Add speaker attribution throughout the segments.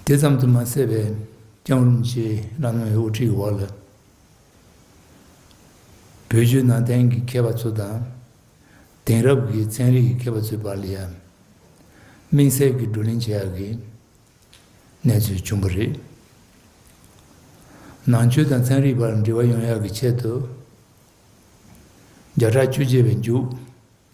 Speaker 1: དེ་ཙམ་དུ་མ་ཟད་པའི་ཀྱང་ཨུ་རུམ་ཆིའི་བླ་མའི་དབུ་ཁྲིད་འོག་ལ་བོད་བརྒྱུད་ནང་བསྟན་གྱི་མཁས་པ་ཚོ་དང། དེང་རབས་ཀྱི་ཚན་རིག་གི་མཁས་པ་ཚོའི་བར་ལ་ཡང་དམིགས་བསལ་གྱི་བགྲོ་གླེང་བྱེད་ཡག་གི་གནས་ཚུལ་བྱུང་བ་རེད། ནང་ཆོས་དང་ཚན་རིག་བར་འབྲེལ་བ་ཡོང་ཡག་གི་ཆེད་དུ་བརྒྱ་ཕྲག་བཅུ་བརྒྱད་པའི་མཇུག་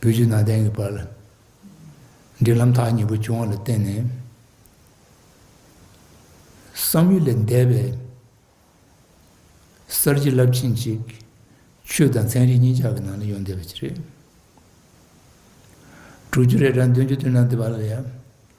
Speaker 1: བུ་བཞི་ནང་བསྟན་གྱི་བར་ལ། འབྲེལ་ལམ་ཐག་ཉེ་པོ་བྱུང་བ་ལ་བརྟེན་ནས། བསམ་ཡུལ་ལས་འདས་པའི་གསར་བརྗེ་རླབས་ཆེན་ཅིག་ཆོས་དང་ཚན་རིག་གཉིས་ཆར་གྱི་ནང་ལ་ཡོང་བསྡད་པ་ཅིག་རེད། དྲུག་ཅུ་རེ་གྲངས་བདུན་ཅུ་བདུན་ནང་བསྡད་པ་ལ་ཡང་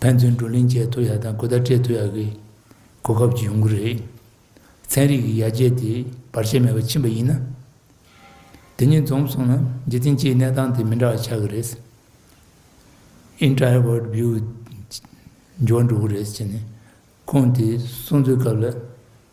Speaker 1: ཕན་ཚུན་བགྲོ་གླེང་བྱས་ཐུབ་ཡག་དང་གོ་བརྡ་སྤྲད་ཐུབ་ཡག་གི་གོ་སྐབས་ཀྱི་ཡོང་གི་རེད། ཚན་རིག་གི་ཡར་རྒྱས་དེ་བར་ཆད་མེད་པར་ཕྱིན་པ་ཡིན་ན། དེ་ཉིད་འཛོམས་སོང་ན་རྗེ་བཙུན་སྤྱིའི་གནས་སྟངས་དེ་མི་འདྲ་བ་ཆགས་ཀྱི་རེད། Introvert View། འགྱུར་བ་འགྲོ་གི་རེད་ཅེས་ནས་ཁོང་དེ་གསུངས་ཚུལ་སྐབས་ལ་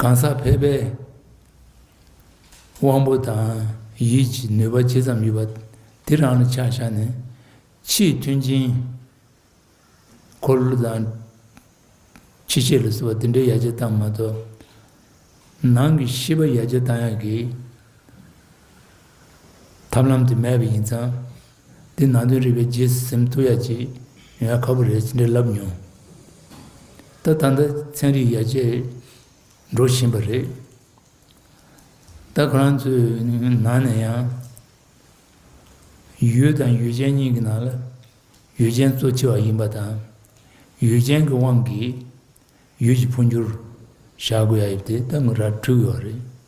Speaker 1: གང་ཟག་ཕལ་པའི་དབང་པོ་དང་ཡིད་ཀྱི་ནུས་པ་ཇི་ཙམ་ཡོད་པ་དེ་རང་ལ་ཆ་བཞག་ནས་ཕྱིའི་མཐུན་རྐྱེན་འཁོར་ལོ་དང་ཕྱི་བཤད་ལ་གསོལ་བ་འདི་འདྲའི་ཡར་རྒྱས་བཏང་མ་གཏོགས་ནང་གི་ཤེས་པ་ཡར་རྒྱས་བཏང་ཡག་གི་ཐབས་ལམ་དེ་མེད་པ་ཡིན་ཙང། འདི་ནང་དོན་རིག་པའི་རྗེས་སུ་སེམས་གཏོད་ཡག་ཅིག་ཡོང་ཡ་ཁག་པོ་རེད་ཅེས་འདྲི་ལབ་མྱོང། ད་ལྟ་འདི་ཚན་རིག་ཡར་རྒྱས་འགྲོ་བཞིན་པ་རེད། ད་ཁོ་རང་ཚོའི་ནང་ནས་ཡང། ཡུལ་དང་ཡུལ་ཅན་གཉིས་ཀྱི་ནང་ལ་ཡུལ་ཅན་གཙོ་ཆེ་བ་ཡིན་པ་དང། ཡུལ་ཅན་གྱི་དབང་གིས་ཡུལ་གྱི་འཕོ་འགྱུར་བཞག་དགོས་ཡ་ཡོད་དེ་ད་ངོས་ར་འཁྲུལ་ཡོད་རེད།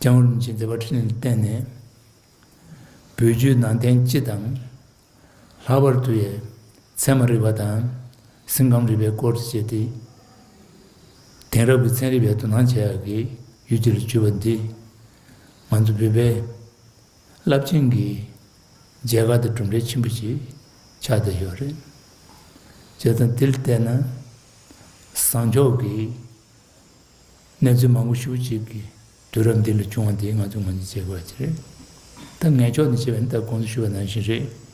Speaker 1: ཀྱང་རིན་ཆེན་བདེ་བ་ཕྲིན་ལས་བསྟན་ནས། འབུལ་རྒྱུའི་ནང་རྟེན་སྤྱི་དང། ལྷག་པར་དུ་ཡས་ཚན་མ་རིག་པ་དང། སེམས་ཁམས་རིག་པའི་སྐོར་དུ་བྱེད་དེ། དེང་རབས་ཀྱི་ཚན་རིག་པས་དོ་སྣང་བྱེད་ཡག་གི་ཡུལ་དེ་རུ་གྱུར་པ་འདི། ང་ཚོ་བོད་པའི་རླབས་ཆེན་གྱི་མཇལ་ཁ་དང་གྲུབ་འབྲས་ཆེན་པོ་ཞིག་ཆགས་བསྡད་ཡོད་རེད། བྱས་ཙང་དེ་ལ་བལྟས་ན། བཟང་ཕྱོགས་ཀྱི། གནས་ཚུལ་མང་པོ་ཞུ་བྱེད་ཀྱི་དུས་རབས་འདི་ལ་བྱུང་བ་འདི་ང་ཚོས་ངོས་འཛིན་བྱེད་དགོས་པ་ཅི་རེད། ད་ངས་ཕྱོགས་འདི་བྱས་པ་ནི་ད་དགོངས་ཚུལ་ཞུ་བ་ནང་བཞིན་རེད།